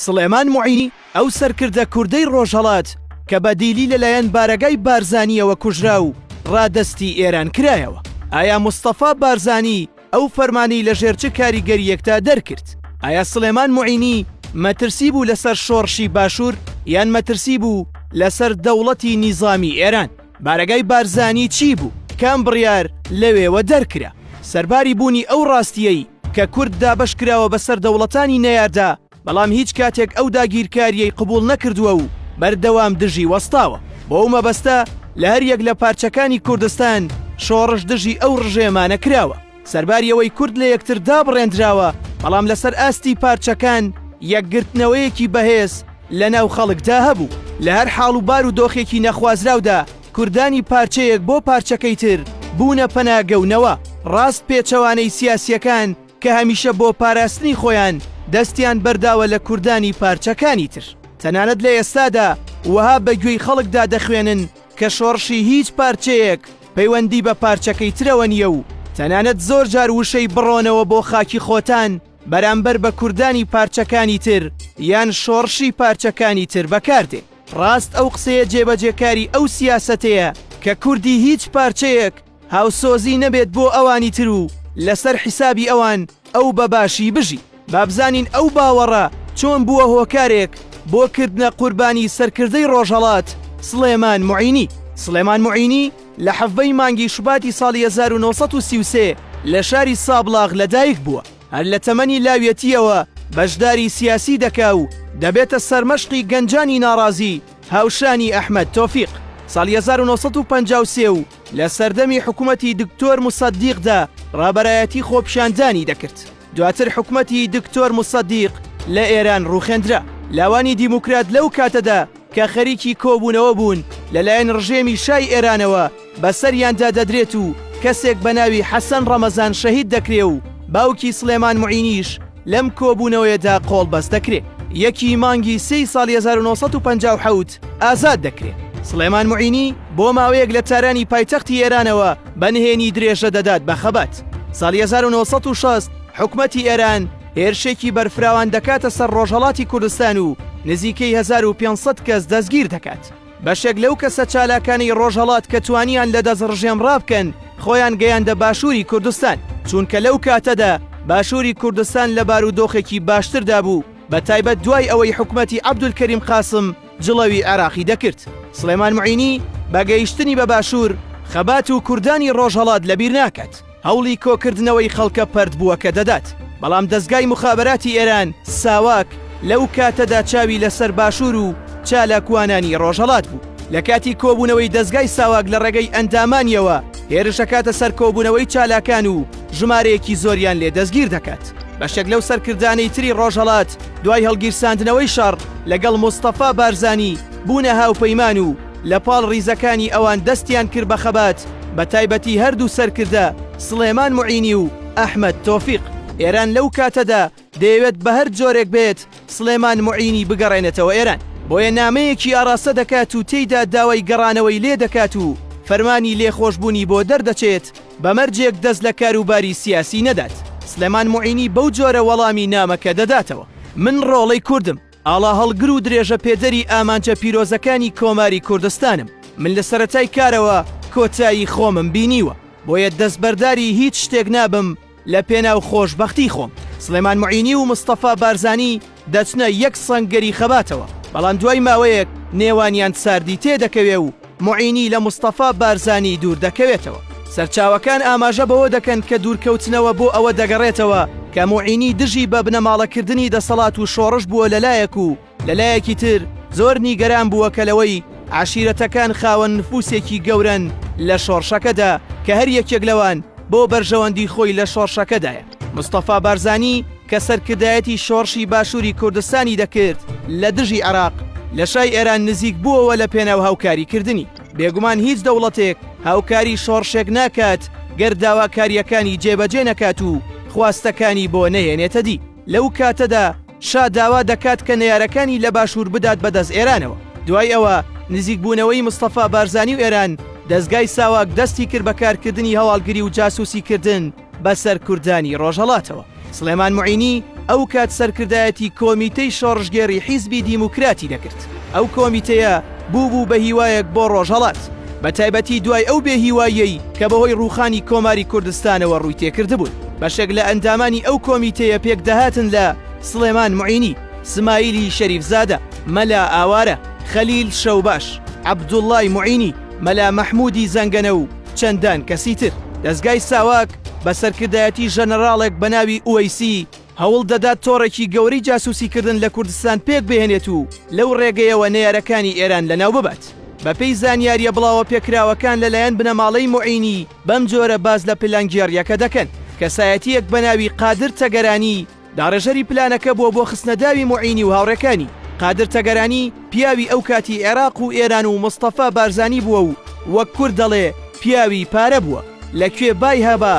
سڵێمان موعینی ئەو سەرکردە کوردەی ڕۆژهەڵات کە بە دیلی لەلایەن بارەگای بارزانییەوە کوژرا و ڕادەستی ئێران کرایەوە ئایا مستەفا بارزانی ئەو فەرمانی لەژێر چ کاریگەریەکدا دەرکرد ئایا سلێمان معینی مەترسی بوو لەسەر شۆڕشی باشوور یان مەترسی بوو لەسەر دەوڵەتی نیزامی ئێران بارەگای بارزانی چی بوو؟ کام بڕیار لەوێوە دەرکرا؟ سەرباری بوونی ئەو ڕاستییەی کە کورد دابەش کراوە بەسەر دەوڵەتانی نەیاردا، بەڵام هیچ کاتێک ئەو داگیرکارییەی قبووڵ نەکردووە و بەردەوام دژی وەستاوە. بەو مەبەستە لە هەریەک لە پارچەکانی کوردستان شۆڕش دژی ئەو ڕژێمانە کراوە. سەرباری ئەوەی کورد لە یەکتر دابڕێندراوە، بەڵام لەسەر ئاستی پارچەکان یەکگرتنەوەیەکی بەهێز لە ناو خەڵکدا هەبوو. لە هەر حاڵ و بار و دۆخێکی نەخوازراودا کوردانی پارچەیەک بۆ پارچەکەی تر بوونە پەناگە و نەوە ڕاست پێچەوانەی سیاسییەکان کە هەمیشە بۆ پاراستنی خۆیان دەستیان بەرداوە لە کوردانی پارچەکانی تر. تەنانەت لە ئێستادا وەها بە گوێی خەڵکدا دەخوێنن کە شۆڕشی هیچ پارچەیەک پەیوەندی بە پارچەکەی ترەوە نییە و تەنانەت زۆر جار وشەی بڕۆنەوە بۆ خاکی خۆتان بەرامبەر بە کوردانی پارچەکانی تر یان شۆڕشی پارچەکانی تر بەکاردێ. ڕاست ئەو قسەیە جێبەجێکاری ئەو سیاسەتەیە کە کوردی هیچ پارچەیەک، هاوسۆزی نەبێت بۆ ئەوانی تر و لەسەر حیسابی ئەوان ئەو بە باشی بژی با بزانین ئەو باوەڕە چۆن بووە هۆکارێک بۆ کردنە قوربانی سەرکردەی ڕۆژهەڵات سڵێمان معینی سڵێمان معینی لە حەڤەی مانگی شوباتی ساڵی 1933 لە شاری سابڵاغ لەدایک بووە هەر لە تەمەنی لاویەتیەوە بەشداری سیاسی دەکا و دەبێتە سەرمەشقی گەنجانی ناڕازی هاوشانی ئەحمەد تۆفیق ساڵی 1953 و لە سەردەمی حکومەتی دکتۆر مسەدیقدا ڕابەرایەتی خۆپیشاندانی دەکرد دواتر حکومەتی دکتۆر مسەدیق لە ئێران ڕوخێندرا لاوانی دیموکرات لەو کاتەدا کە خەریکی کۆبوونەوە بوون لەلایەن ڕژێمی شای ئێرانەوە بەسەریاندا دەدرێت و کەسێک بە ناوی حەسەن ڕەمەزان شەهید دەکرێ و باوکی سلێمان معینیش لەم کۆبوونەوەیەدا قۆڵبەست دەکرێ یەکی مانگی سێی ساڵی هەزار و نۆ سەد و پەنجا و حەوت ئازاد دەکرێ. سڵێمان معینی بۆ ماوەیەک لە تارانی پایتەختی ئێرانەوە بە نهێنی درێژە دەدات بە خەبات. ساڵی هەزار و نۆ سەد و شەست حکومەتی ئێران هێرشێکی بەرفراوان دەکاتە سەر ڕۆژهەڵاتی کوردستان و نزیکەی هەزار و پێنج سەد کەس دەستگیر دەکات. بەشێک لەو کەسە چالاکانەی ڕۆژهەڵات کە توانیان لە دەست ڕژێم ڕابکەن خۆیان گەیاندە باشووری کوردستان چونکە لەو کاتەدا باشووری کوردستان لە بارودۆخێکی باشتردا بوو بە تایبەت دوای ئەوەی حکوومەتی عەبدولکەریم قاسم جڵەوی عێراقی دەکرد سڵێمان معینی بە گەیشتنی بە باشوور خەبات و کوردانی ڕۆژهەڵات لەبیر ناکات. هەوڵی کۆکردنەوەی خەڵکە پەرتبووەکە دەدات، بەڵام دەزگای موخابەراتی ئێران، ساواک، لەو کاتەدا چاوی لەسەر باشوور و چالاکوانانی ڕۆژهەڵات بوو. لە کاتی کۆبوونەوەی دەزگای ساواک لە ڕێگەی ئەندامانییەوە هێرش دەکاتە سەر کۆبوونەوەی چالاکان و ژمارەیەکی زۆریان لێ دەستگیر دەکات. بەشێک لەو سەرکردانەی تری ڕۆژهەڵات دوای هەڵگیرساندنەوەی شەڕ لەگەڵ مستەفا بارزانی بوونە هاوپەیمان و، لە پاڵ ڕیزەکانی ئەوان دەستیان کرد بە خەبات بە تایبەتی هەردوو سەرکردە سڵێمان موعینی و ئەحمەد تۆفیق. ئێران لەو کاتەدا دەیەوێت بە هەر جۆرێک بێت سڵێمان موعینی بگەڕێنێتەوە ئێران. بۆیە نامەیەکی ئاڕاستە دەکات و تێیدا داوای گەڕانەوەی لێ دەکات و فەرمانی لێخۆشبوونی بۆ دەردەچێت بە مەرجێک دەست لە کاروباری سیاسی نەدات. سڵێمان موعینی بەو جۆرە وەڵامی نامەکە دەداتەوە. من ڕۆڵەی کوردم. ئاڵاهەڵگر و درێژەپێدەری ئامانجە پیرۆزەکانی کۆماری کوردستانم. من لە سەرەتای کارەوە کۆتایی خۆمم بینیوە، بۆیە دەستبەرداری هیچ شتێک نابم لە پێناو خۆشبەختی خۆم. سڵێمان موعینی و مستەفا بارزانی دەچنە یەک سەنگەری خەباتەوە، بەڵام دوای ماوەیەک نێوانیان ساردی تێدەکەوێ و، موعینی لە مستەفا بارزانی دوور دەکەوێتەوە. سەرچاوەکان ئاماژە بەوە دەکەن کە دوورکەوتنەوە بۆ ئەوە دەگەڕێتەوە کە موعینی دژی بە بنەماڵەکردنی دەسەڵات و شۆڕش بووە لە لایەک و لە لایەکی تر زۆر نیگەران بووە کە لەوەی عەشیرەتەکان خاوەن نفوسێکی گەورەن لە شۆڕشەکەدا کە هەر یەکێک لەوان بۆ بەرژەوەندی خۆی لە شۆڕشەکەدایە. مستەفا بارزانی کە سەرکردایەتی شۆڕشی باشووری کوردستانی دەکرد لە دژی عێراق لە شای ئێران نزیک بووەوە لە پێناو هاوکاریکردنی بێگومان هیچ دەوڵەتێک هاوکاری شۆڕشێک ناکات گەر داواکاریەکانی جێبەجێ نەکات و خواستەکانی بۆ نەهێنێتە دی لەو کاتەدا شا داوا دەکات کە نەیارەکانی لە باشوور بدات بەدەست ئێرانەوە دوای ئەوە نزیکبوونەوەی مستەفا بارزانی و ئێران دەستگای ساواک دەستی کرد بە کارکردنی هەواڵگری و جاسوسی کردن بە سەرکوردانی ڕۆژهەڵاتەوە. سڵێمان معینی ئەو کات سەرکردایەتی کۆمیتەی شۆڕشگێڕی حیزبی دیموکراتی دەکرد. ئەو کۆمیتەیە بوو بوو بە هیوایەک بۆ ڕۆژهەڵات، بە تایبەتی دوای ئەو بێ هیواییەی کە بە هۆی ڕووخانی کۆماری کوردستانەوە ڕووی تێ کردبوون. بەشێک لە ئەندامانی ئەو کۆمیتەیە پێک دەهاتن لە، سڵێمان معینی، سمایلی شەریفزادە، مەلا ئاوارە، خەلیل شەوباش، عەبدوڵڵای معینی، مەلا مەحموودی زەنگەنە و چەندان کەسی تر. دەزگای ساواک بە سەرکردایەتی ژەنەراڵێک بە ناوی ئوەیسی هەوڵ دەدات تۆڕێکی گەورەی جاسووسیکردن لە کوردستان پێک بهێنێت و لەو ڕێگەیەوە نەیارەکانی ئێران لەناو ببات. بەپێی زانیارییە بڵاوەپێکراوەکان لەلایەن بنەماڵەی موعینی بەمجۆرە باس لە پلانگێڕییەکە دەکەن، کەسایەتییەک بە ناوی قادر تەگەرانی، داڕێژەری پلانەکە بووە بۆ خستنەداوی موعینی و هاوڕێکانی، قادر تەگەرانی پیاوی ئەو کاتی عێراق و ئێران و مستەفا بارزانی بووە و وەک کورد دەڵێ پیاوی پارە بووە، لە کوێ بای هەبا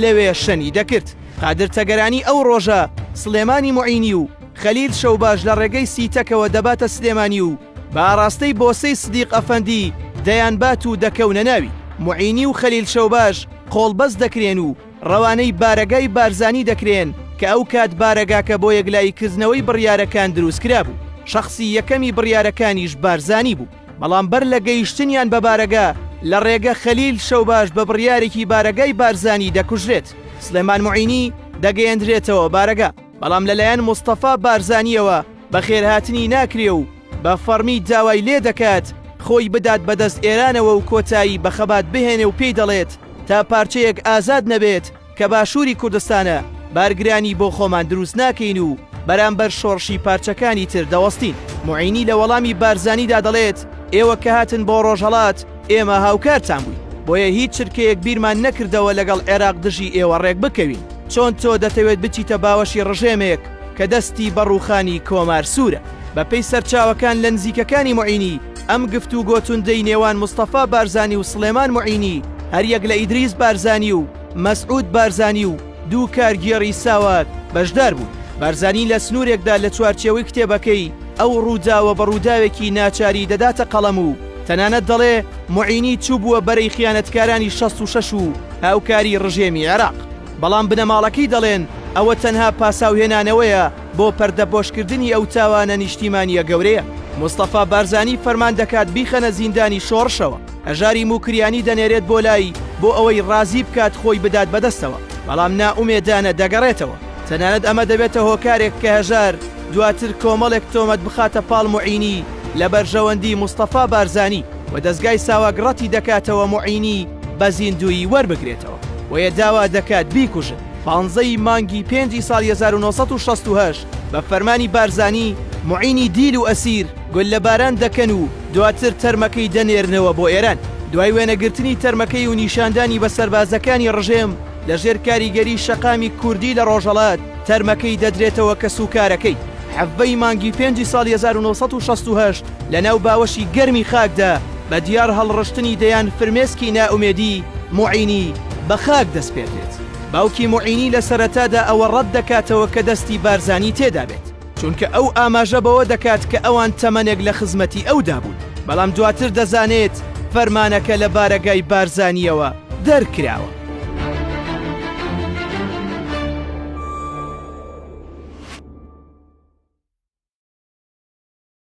لەوێ شەنی دەکرد. قادر تەگەرانی ئەو ڕۆژە سڵێمانی موعینی و خەلیل شەوباش لە ڕێگەی سی تەکەوە دەباتە سلێمانی و بە ئاڕاستەی بۆسەی سدیق ئەفەندی دەیانبات و دەکەونە ناوی. موعینی و خەلیل شەوباش قۆڵبەست دەکرێن و، ڕەوانەی بارەگای بارزانی دەکرێن کە ئەو کات بارەگاکە بۆ یەکلایی کردنەوەی بڕیارەکان دروست کرابوو، شەخسی یەکەمی بڕیارەکانیش بارزانی بوو، بەڵام بەر لە گەیشتنیان بە بارەگا لە ڕێگە خەلیل شەوباش بە بڕیارێکی بارەگای بارزانی دەکوژرێت، سڵێمان موعینی دەگەیەندرێتەوە بارەگا. بەڵام لەلایەن مستەفا بارزانییەوە بەخێرهاتنی ناکرێ و بە فەڕمی داوای لێ دەکات خۆی بدات بە دەست ئێرانەوە و کۆتایی بە خەبات بهێنێ و پێی دەڵێت تا پارچەیەک ئازاد نەبێت کە باشووری کوردستانە بارگرانی بۆ خۆمان دروست ناکەین و بەرامبەر شۆڕشی پارچەکانی تر دەوەستین. موعینی لە وەڵامی بارزانیدا دەڵێت ئێوە کە هاتن بۆ ڕۆژهەڵات ئێمە هاوکارتان بووین، بۆیە هیچ چرکەیەک بیرمان نەکردەوە لەگەڵ عێراق دژی ئێوە ڕێکبکەوین، چۆن تۆ دەتەوێت بچیتە باوەشی ڕژێمێک کە دەستی بە ڕووخانی کۆمار سوورە؟ بەپێی سەرچاوەکان لە نزیکەکانی موعینی، ئەم گفتوگۆ توندەی نێوان مستەفا بارزانی و سڵێمان موعینی، هەریەک لە ئیدریس بارزانی و مەسعود بارزانی و، دوو کارگێڕی ساوات بەشدار بوون. بارزانی لە سنوورێکدا لە چوارچێوەی کتێبەکەی ئەو ڕووداوە بە ڕووداوێکی ناچاری دەداتە قەڵەم و تەنانەت دەڵێ موعینی چووبووە بەرەی خیانەتکارانی شەست و شەش و هاوکاری ڕژێمی عێراق. بەڵام بنەماڵەکەی دەڵێن ئەوە تەنها پاساوهێنانەوەیە بۆ پەردەپۆشکردنی ئەو تاوانە نیشتیمانییە گەورەیە. مستەفا بارزانی فەرمان دەکات بیخەنە زیندانی شۆڕشەوە. هەژاری موکریانی دەنێرێت بۆ لای بۆ ئەوەی ڕازی بکات خۆی بدات بەدەستەوە بەڵام نائومێدانە دەگەڕێتەوە تەنانەت ئەمە دەبێتە هۆکارێک کە هەژار دواتر کۆمەڵێک تۆمەت بخاتە پاڵ معینی لە بەرژەوەندی مستەفا بارزانی و دەستگای ساواک ڕەتی دەکاتەوە معینی بە زیندوویی وەربگرێتەوە بۆیە داوا دەکات بیکوژن. پانزە ی مانگی پێنجی ساڵی 1968 بە فەرمانی بارزانی معینی دیل و ئەسیر گوللەباران دەکەن و دواتر تەرمەکەی دەنێرنەوە بۆ ئێران. دوای وێنەگرتنی تەرمەکەی و نیشاندانی بە سەربازەکانی ڕژێم، لە ژێر کاریگەری شەقامی کوردی لە ڕۆژهەڵات، تەرمەکەی دەدرێتەوە کەسوکارەکەی. حەڤە ی مانگی پێنجی ساڵی هەزار و نۆ سەد و شەست و هەشت لەناو باوەشی گەرمی خاکدا، بە دیار هەڵڕشتنی دەیان فرمێسکی نائومێدی، موعینی بە خاک دەسپێردرێت. باوکی موعینی لە سەرەتادا ئەوە ڕەت دەکاتەوە کە دەستی بارزانی تێدابێت. چونکە ئەو ئاماژە بەوە دەکات کە ئەوان تەمەنێک لە خزمەتی ئەودا بوون، بەڵام دواتر دەزانێت فەرمانەکە لە بارەگای بارزانییەوە دەرکراوە.